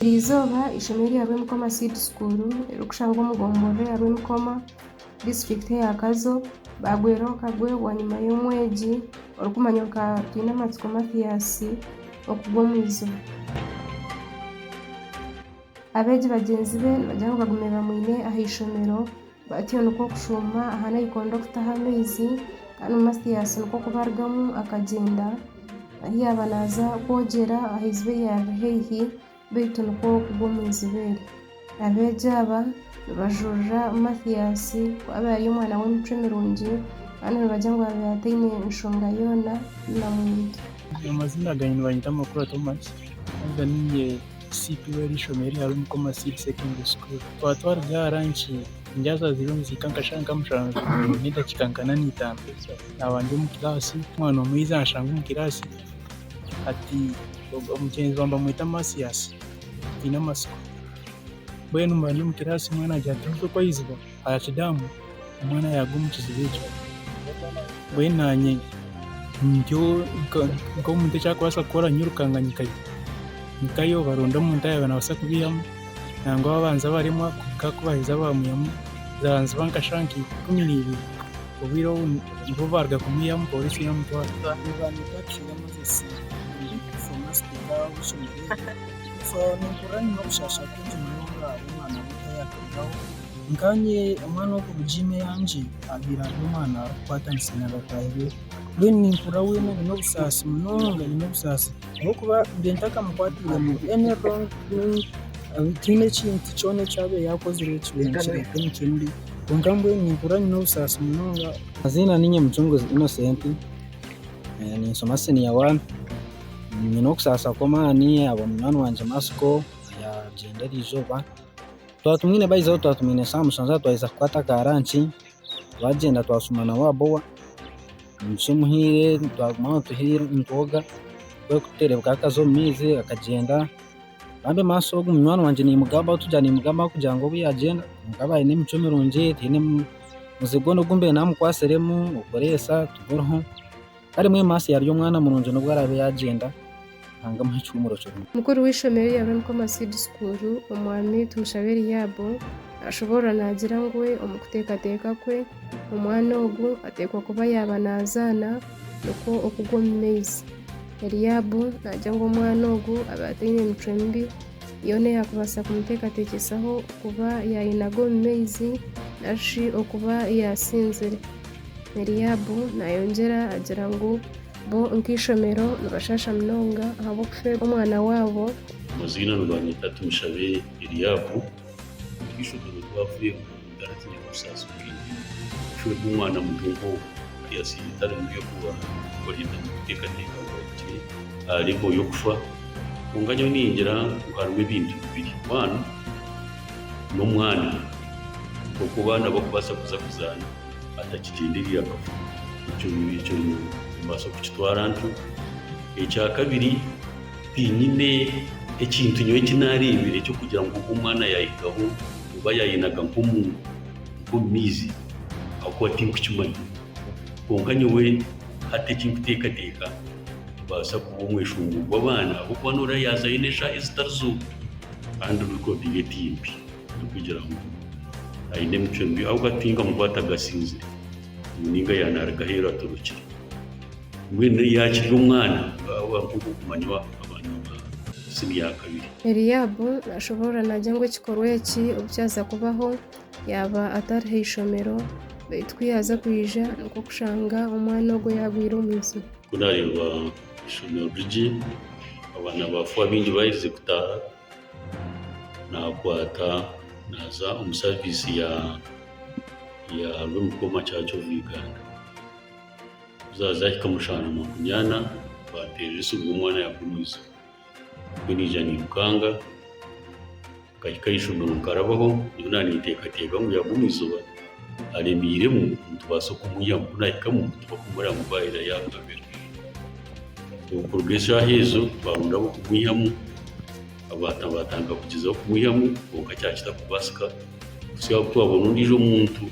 Buri izooba eishomeero rya Rwemikoma Seed School erikushangwa omu gomborora eya Rwemikoma, disiturikiti eya Kazo baagwera omu kagwebwa nyima y'omwegi orikumanywa nka Twinamatsiko Mathias okugwa omu iziba. Abeegi bagyenzi be nibagira ngu bagume bamwine aha ishomero. Batyo nikwo kushuuma aha naikondo okutaha amaizi kandi Matias nikwo kuba arugamu akagyenda ahu yaaba naaza kwogyera aha iziba eryaaba riri haihi beitu nikwo kugwa omu iziba eryo. Abeegi aba nibajuurira Matias ku abe ari omwana w'emicwe mirungi kandi nibagira ngu abe ataine nshonga yoona na muntu. Amazina gangye nibanyeta Makura Thomas haza niinye Siipi w'eri ishomero erya Rumuko Masiiri Secondary School. Twaba twaruga aha ranki, ndyaza aha ziriyo nizihika nka shaaha nka mushanju n'edakiika nka na n'eitaano. Naaba ndi omu kiraasi, omwana omwe yaija anshanga omu kiraasi ati, omugyenzi waawe nibamweta Masiasi, twine amatsiko. Mbwenu mba ndi omu kiraasi omwana agira ati, Mutwe ku aizire? Arakidaamu, omwana yaaruga omu kiziba ekyo. Mbwenu naanye nintyo nka nk'omuntu eki arikubaasa kukora nyirukaanga nyikayo. Nyikayo baronda omuntu araabe naabaasa kubiihamu nangwa babanza baremwa kwonka ku baaheza baamuihamu. Zaabanziba nka shaaha nka ikumi neibiri obwire obu nibwo baaruga kumwihamu pooriisi yaamutwara. Nkaanye omwana ow'okuruga ine yangye abaire ari omwana arikukwatanisa na bataahi be mbwenu nimpurira weena aine obusaasi munonga aine obusaasi ahabw'okuba mbiire ntakamukwatairemu any wrong thing tihaine ekintu kyona eki abaire yaakozire ekibaire nikireeta emicwe mibi kwonka mbwenu nimpurira nyine obusaasi munonga. Amazina niinye Mucunguzi Innocent, ninshoma siniya waani, nyine okusaasa kw'amaani ahabwa munywani wangye Masiko, yaagyenda erizooba. Twaba tumwine baija ahu twaba tumwine shaaha mushanju ahu twaheza kukwata ka ranki, twagyenda twashuma na Wabowa, omugisha omuhaire twaguma aho nituhi nitwoga kwonka ku tureebeka akaza omu maizi akagyenda, bambi maasho ogu munywani wangye niimugambaho tugira niimugambaho kugira ngu obu yaagyenda kwonka aba aine emicwe mirungi taine muzigo n'ogu mbiire naamukwatsiremu okureetsa tiburiho Kare mweme Asa yarya omwana murungi n'obu araabe yaagyenda, Ruhanga amuhe ekihumuro kirungi. Mukuru w'eishomero erya Rwemukoma Seed School, Omwami Tumushabe Eliabu, naashoboorora naagira ngu omu kuteekateeka kwe, omwana ogu ateekwa kuba yaaba naazaana nikwo okugwa omu maizi. Eliabu naagira ngu omwana ogu abe ataine micwe mibi yoona eyaakubaasa kumuteekateekyesaho kuba yaayinaga omu maizi nari okuba yaasinzire. Eliabu naayongyera agira ngu bo nk'eishomero nibashaasha munonga ahabw'okufeerwa omwana waabo. Amaziina nibanyeta Tumushabe Eliabu, nk'eishomero twafeerwa. Garatinya kusaasira oine. Shwe ku omwana muto nk'ogwo yaasiiba itara nibyo kuba oine kuteekateeka ngu ahikire aha levo y'okufa. Kwonka nyowe ningira ngu harimu ebintu bibiri. One, n'omwana nk'oku abaana barikubaasa kuza kuzaana atakigyendereire akafa. Ekyo ekyo nimbaasa kukitwara ntyo. Ekyakabiri. Tinyine ekintu nyowe eki naareebire eky'okugira ngu ogu omwana yaahigaho oba yaayinaga nk'omu nk'omu maizi ahakuba tinkukimanya. Kwonka nyowe hati eki nkuteekateeka nitubaasa kuba omweshombo gw'abaana ahabw'okuba nooreeba yaaza aine eshaaha ezitari zimwe kandi rekodi ye timbi erikugira ngu aine emicwe mibi ahabw'okuba tinkamukwataga asinzire. ngu ninga ya naruga ahu eraturukire mbwenu eyi yakirya omwana bwaba nkoku okumanya abaana ba sibyakabiri. Eliabu nashoborora nagya ngu ekikorwa eki obu kyaza kubaho yaba atari haishomero baitu ku yaza kwija nikwo kushanga omwana ogwo yagwire omu iziba. Ku nareba ishomero rigye abaana ba fo abingi baherize kutaha. naakwata naaza omu saaviisi ya ya Lurukoma Church of Uganda. Ku zaazahika mu shaaha makumi ana, bampeerera esimu ngu omwana yaaruga omu izooba. Nyowe naija niirukanga, nkahika aha ishomero nkarabaho, nyowe naaninteekateeka ngu yaaruga omu izooba. aremeiremu nitubaasa okumwihamu ku naahikamu nitubaasa kumworeka ngu baahera yaagambira okuruga eshaaha ezo twaronda ab'okumwihamu abaata baatandika kugyezaho kumwihamu kwonka kyakira kubaasika kuhisya ahu twabona ondiijo omuntu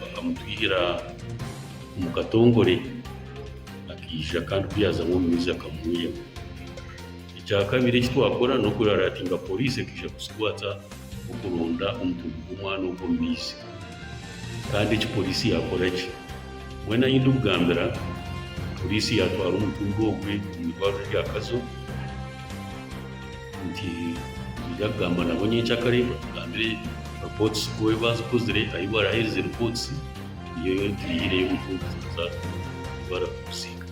akamutwihira omu katongore akaija kandi ku yaazamu omu maizi akamwiha. Ekyakabiri eki twakora n'okuraratinga poriisi ekaija kutukwata okuronda omutumbi gw'omwana ogwo omu maizi. Kandi eki poriisi yaakora ki? Mbwenu ahi ndikugambira, poriisi yaatwara omutumba ogwe omu irwariro rya Kazo nti niija kugamba nabo nyenkyakare batugambire ripootisi ku ei baazikozire, ahi baraheerize ripootisi, niyo turiihireyo omutumba zaaza oku barikugusiika.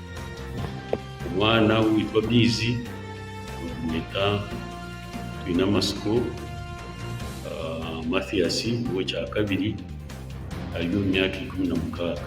Omwana owitwa Amaizi nitumweta twine amatsiko Mathias ow'ekyakabiri ari omu myaka ikumi na mukaaga.